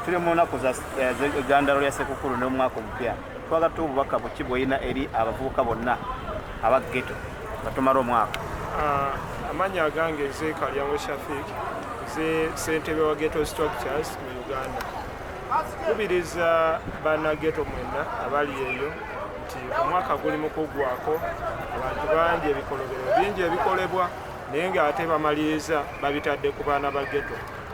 tuli mu nnaku za egandalo lya sekukulu n'omwaka omupya twagala tuwa obubaka buki bwolina eri abavubuka bonna aba geto nga tumala omwaka ah, amanya agange ze kalyango shafik ze sentebe wa geto structures mu uganda kubiriza bana geto mwenna abali eyo nti omwaka guli mu kuggwako abantu bangi ebikolobero bingi ebikolebwa naye ng'ate bamaliriza babitadde ku baana ba geto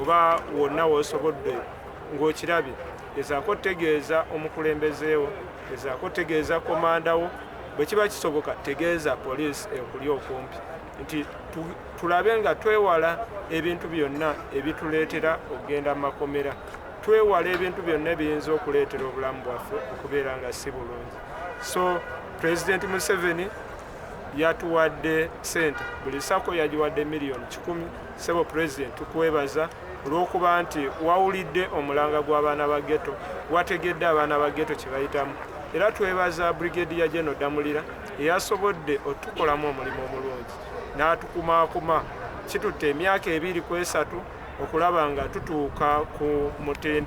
oba wonna wosobodde ng'okirabye gezaako otegeeza omukulembezeewo gezaako otegeeza komandawo bwe kiba kisoboka tegeeza poliisi ekuli okumpi nti tulabe nga twewala ebintu byonna ebituleetera okugenda mu makomera twewala ebintu byonna ebiyinza okuleetera obulamu bwaffe okubeera nga si bulungi so pulezidenti museveni yatuwadde sente buli sako yagiwadde miliyoni kikumi Sebo President tukwebaza olw'okuba nti wawulidde omulanga gw'abaana ba ghetto, wategedde abaana ba ghetto kye bayitamu era twebaza Brigadier General Damulira eyasobodde otukolamu omulimu omulungi n'atukumaakuma kitutte emyaka ebiri ku esatu okulaba nga tutuuka ku mutindo